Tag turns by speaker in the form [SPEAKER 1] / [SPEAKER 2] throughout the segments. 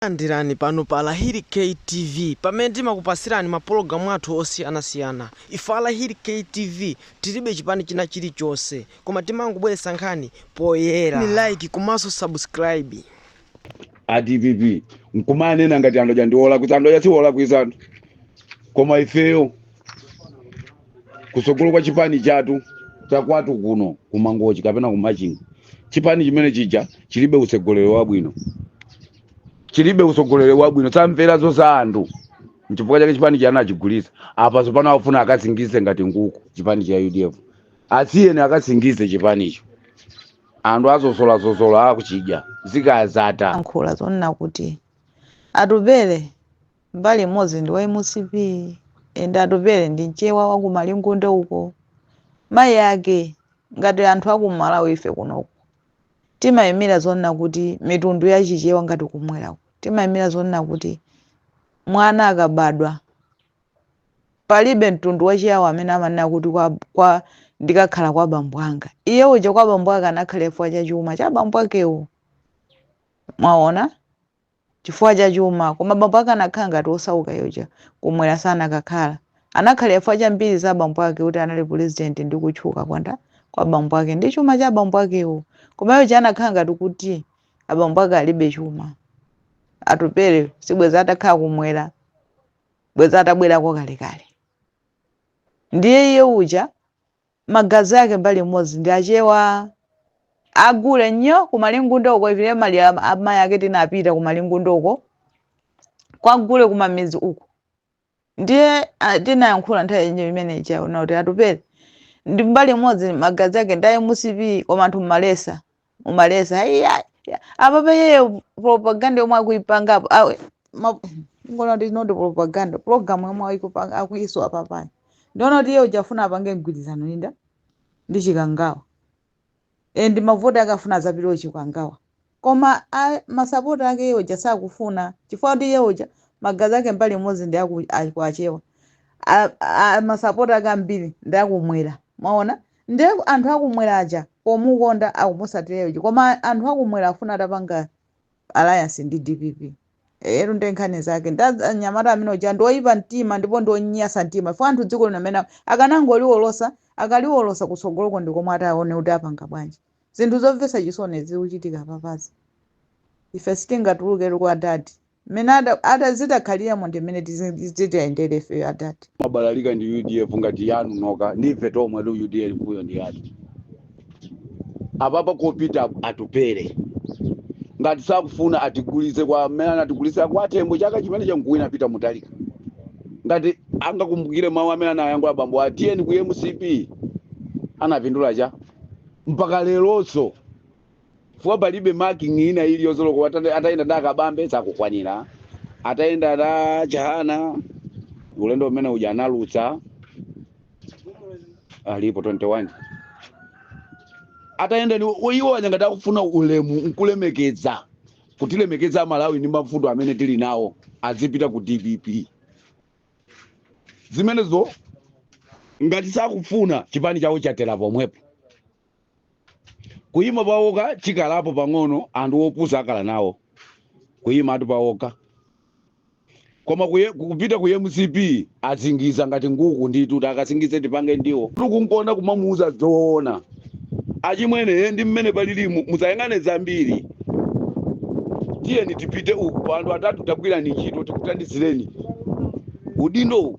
[SPEAKER 1] Takulandirani pano pa Lahiri K TV pamene timakupasirani mapologalamu athu osiyana siyana. Ife a Lahiri K TV tilibe chipani china chilichonse koma timangobweretsa nkhani poyera. Pangani like komanso subscribe.
[SPEAKER 2] a dpp nkumanena ngati anthu aja ndi olakwitsa anthu aja si olakwitsa anthu koma ifeyo kutsogolo kwa chipani chathu chakwathu kuno kumangochi kapena kumachinga chipani chimene chija chilibe utsogoleri wabwino chilibe utsogoleri wabwino samvera za anthu nchifukwa chake chipani chija achigulitsa apa tsopano afuna akasingize ngati nkhuku chipani cha udf asiyeni akasingize chipanicho anthu azozolazozola akuchidya zikadzatha ayankhula zonena
[SPEAKER 3] kuti atupele mbali imodzi ndi wa mcp ende atupele ndi mchewa wa ku malingunde uko mayi ake ngati anthu akumalawi ife kunoko timayimira zonena kuti mitundu ya chichewa ngati kumwera timayimira zonena kuti mwana akabadwa palibe mtundu wa chiyawo amene amanena kuti kwa, kwa ndikakhala kwa bambo anga iye uja kwa bambo ake anakhala chifukwa cha chuma cha bambo akewo mwaona chifukwa cha chuma, koma bambo ake anakhala ngati osauka iye uja, kumwera sanakakhala. Anakhalira chifukwa cha mbiri za bambo ake kuti anali pulezidenti ndi kutchuka kwa nda kwa bambo ake ndi chuma cha bambo akewo. Koma iye uja anakhala ngati kuti abambo ake alibe chuma. Atupele sibwezi atakhala kumwera, bwezi atabwerako kalekale. Ndiye iye uja magazi ake mbali imodzi ndi achewa agule nnyo kumalingunde uko ivini maliro a amayi ake tinapita kumalingunde uko kwagule kumamidzi uko ndiye ah, tinayankhula nthawi yenyewe imene ija kunena kuti atupele ndi mbali imodzi magazi ake ndi a mcp koma anthu mmaletsa umaletsa iya iya. apa pa iye propaganda yomwe akuipanga apo awe ma- ngona kuti not propaganda program yomwe ayikupanga- akuiso apapayi ndiona kuti iye uja afuna apange mgwirizano linda ndi chikangawa ende mavoti ake afuna azapita kuchikangawa koma a- masapota ake iye uja sakufuna chifukwa kuti iye uja magazi ake mbali imodzi ndi aku- akuachewa A- a- masapota ake ambiri ndi akumwera mwaona Nde anthu akumwera aja pomukonda akumusatileyo chi koma anthu akumwera akufuna atapanga alliance ndi dpp eyetu nde nkhani zake nde anyamata amene uja ndi oyipa mtima ndipo ndi onyasa mtima chifukwa anthu dziko lino amene akanangoliwolosa akaliwolosa kutsogoloko ndi komwe ataone kuti apanga bwanji zinthu zomvetsa chisoni zikuchitika apapazi ife sitingatuluketu kwa dadi mmene ada- ada- zitakhaliramo ndi mmene tizi- titayendere ifeyo adati mabalalika ndi
[SPEAKER 2] udf ngati yanu nokha ndife tomwe tu udf kuyo ndi yanu apapa kopita atupele ngati sakufuna atigulitse kwa amene anatigulitsa kwa atembo chaka chimene chankuwina a peter mutharika ngati angakumbukire mawu amene anayankhula bambo atiyeni ku mcp anapindula cha mpaka leronso chifukwa palibe marking ina iliyonse olo ata- atayenda ndi a kabambe sakukwanira atayenda ndi a chihana ulendo umene uja analuza alipo 21 atayenda ni iwo aja ngati akufuna ulemu nkulemekeza kutilemekeza amalawi ndi mavuto amene tili nawo azipita ku dpp zimenezo ngati sakufuna chipani chawo chatera pomwepo kuyima pawokha chikhalapo pang'ono anthu opusa akhala nawo kuyimatu pawokha koma kuye, kupita ku mcp azingiza ngati nkhuku nditu takasingize tipange ndiwo tikunkonda kumamuuza zoona achimwene ndi mmene palili mu- musayang'ane zambiri tiyeni tipite uku anthu atatu tagwirani ntchito tikuthandizireni udindo uwu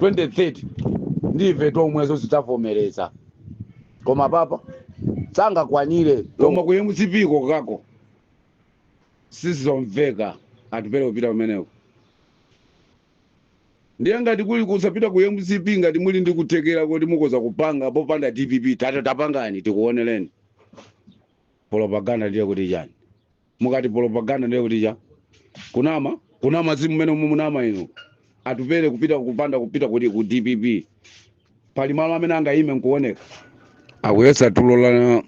[SPEAKER 2] 2030 ndi ife tomwenso tidzavomereza koma apapa sangakwanire koma ku mcp kokhako sizomveka atupele kupita kumeneko ndiye ngati kuli kusapita ku mcp ngati muli ndi kuthekera kuti mukoza kupanga popanda dpp tata tapangani tikuonereni propaganda ndiye kuti chani mukati propaganda ndiye kuti cha kunama kunama si mmene umu munama inu atupele kupita kupanda kupita kuti ku dpp pali malo amene angayime nkuoneka akuyesa tulo la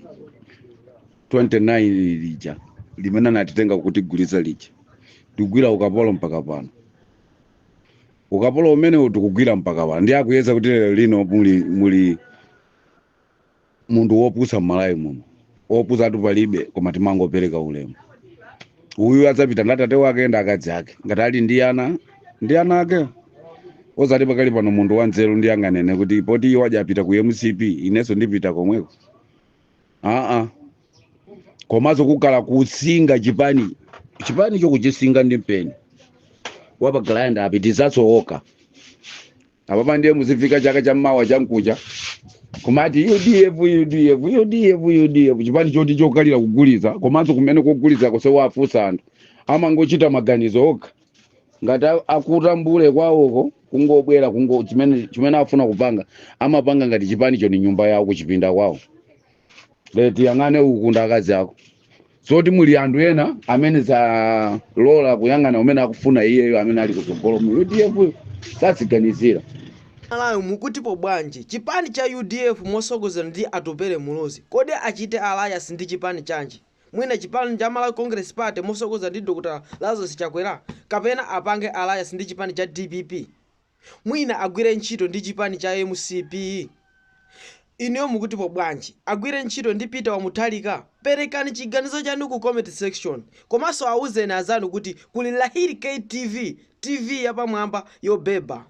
[SPEAKER 2] 29 lija limene anatitenga kutigulitsa lija tikugwira ukapolo mpaka pano ukapolo umenewu tikugwira mpaka pano ndiye akuyesa kuti lero lino muli muli munthu wopusa mmalawi muno opusatu palibe koma timangopereka ulemu uyu adzapita ndi atate wake ndi akazi ake ngati ali ndi ana ndi ana ake osati pakali pano munthu wanzeru ndi anganene kuti poti iwo aja apita ku mcp inenso ndipita komweko aa komanso kukhala kusinga chipani chipani chokuchisinga ndi mpeni wa pa grinder apitizanso okha apapa ndiye muzifika chaka cha mawa chamkucha kumati udf udf udf udf chipani choti chokhalira kugulitsa komanso kumene kogulitsako osawafunsa anthu amangochita maganizo okha ngati a- akutambule kwawoko kungobwera kungo chimene chimene afuna kupanga amapanga ngati chipanicho ni nyumba yawo kuchipinda kwawo bedi yang'ane uku ndi akazi ako zoti muli anthu ena amene azalola kuyang'ana umene akufuna iyeyo amene ali kutsogolo mu udf -yo. saziganizira malawi
[SPEAKER 1] mukutipo bwanji chipani cha udf mosogozedwa ndi atupele muluzi kodi achite alliance ndi chipani chanji mwina chipani cha malawi congress party mosogozedwa ndi dr lazarus chakwera kapena apange alliance ndi chipani cha dpp mwina agwire ntchito ndi chipani cha mcp? Inuyo mukutipo bwanji? Agwire ntchito ndi Peter wa Mutharika? Perekani chiganizo chanu ku comment section. Komanso auzeni anzanu kuti kuli Lahiri K TV, TV yapamwamba yobeba.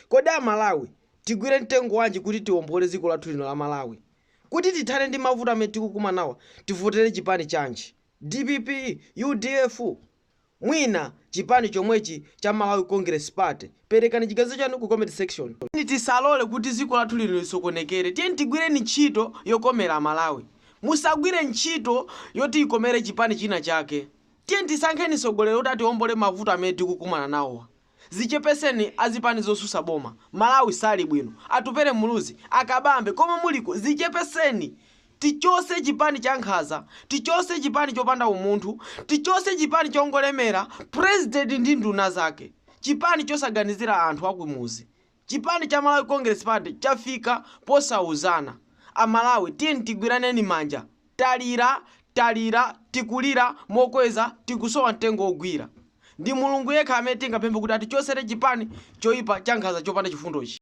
[SPEAKER 1] Kodi a Malawi tigwire mtengo wanji kuti tiwombole dziko lathu lino la Malawi? Kuti tithane ndi mavuto amene tikukumana nawa tivotere chipani chanji? Dpp? Udf? mwina chipani chomwechi cha Malawi Congress Party. Perekani chiganizo chanu ku comment section. Tiyeni tisalole kuti dziko lathu lino lisokonekere. Tiyeni tigwireni ntchito yokomera Amalawi. Musagwire ntchito yoti ikomere chipani china chake. Tiyeni tisankheni mtsogoleri kuti atiombole mavuto amene tikukumana nawowa. Zichepeseni azipani zosusa boma malawi sali bwino atupele muluzi a kabambe komwe muliko zichepeseni tichose chipani chankhaza tichose chipani chopanda umunthu tichose chipani chongolemera president ndi nduna zake chipani chosaganizira anthu akumuzi Chipani cha Malawi Congress Party chafika posauzana. A Malawi tiyeni tigwiraneni manja. Talira, talira, tikulira mokweza tikusowa mtengo wogwira. Ndi Mulungu yekha amene tingapemphe kuti atichosere chipani choipa chankhaza chopanda chifundochi.